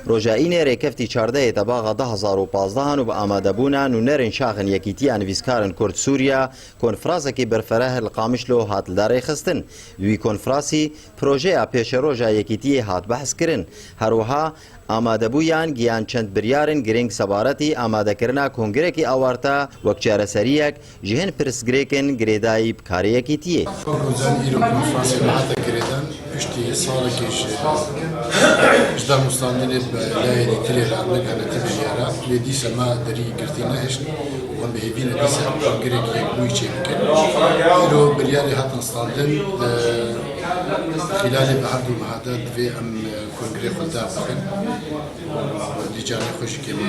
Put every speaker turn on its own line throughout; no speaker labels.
Roja Înê rêkeftî çardeyê de baxa du hezar û pazdeh an û bi amadebûna nûnerên şaxên Yekîtiya Nivîskarin Kurd Sûriya konfrasekî berfereh li Qamişlo hat lidarêxistin. Di wî konfrasî projeya pêşeroja Yekîtiyê hat behskirin. Her wiha amadebûyan giyan çend biryarên girîng sebaretî amadekirina kongrekî awarte wek çareseriyek, Ji hin pirsgirêkên girêdayî bi karê yekîtiyê. Kurdan îro
konferansê nehate girêdan piştî salekê ji ji danûstandinê bi layerî tilê re ne ganetî biryara lê dîsa me derî girtî nehişt û em bi hêvî ne dîsa girêk yekbûyî çê bikin. Îro biryarê hatin standin di xîlalê bi herdû meha de divê em kongirê xwe dev bixin û dîcanê xwe ji kêma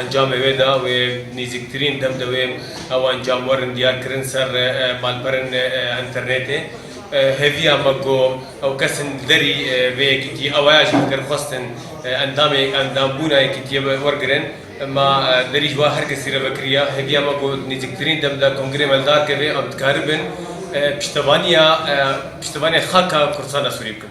Encamê wê de wê nêzîktirîn dem de wê ew encam werin diyar kirin ser malperên înternêtê. Hêviya me ku ew kesên li derî vê yekîtiyê awaya jî bikin xwestin endamê endambûna yekîtiyê wergirin. Ma derî ji we her kesî re vekiriya. Hêviya me ku di nêzîktirîn dem de kongirê me li dar keve em dikaribin piştevaniya piştevaniya xaka Kurdistana Sûrî bikin.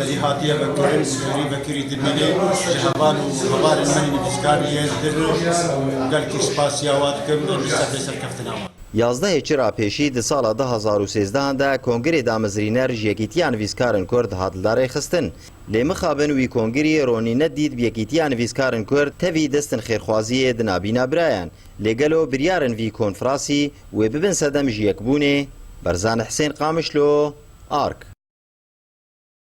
Belî hatiye vekirin, sêrî vekirî dimîne ji heval û hevalên min nivîskar yên din gelkî spasiya wan dikim û li sefê serkeftina wan. Yazdehê Çira
pêşî di sala du hezar û sêzdehan de kongirê damezrîner ji Yekîtiya Nivîskarin Kurd hat li dar rêxistin. Lê mixabin wî kongirî ronî ne dît bi Yekîtiya Nivîskarin Kurd tevî destin xêrxwaziyê di nabîna birayan. Lê gelo biryarin vî konfrasî wê bibin sedem ji yekbûnê? Barzani Hisên Qamişlo, ark.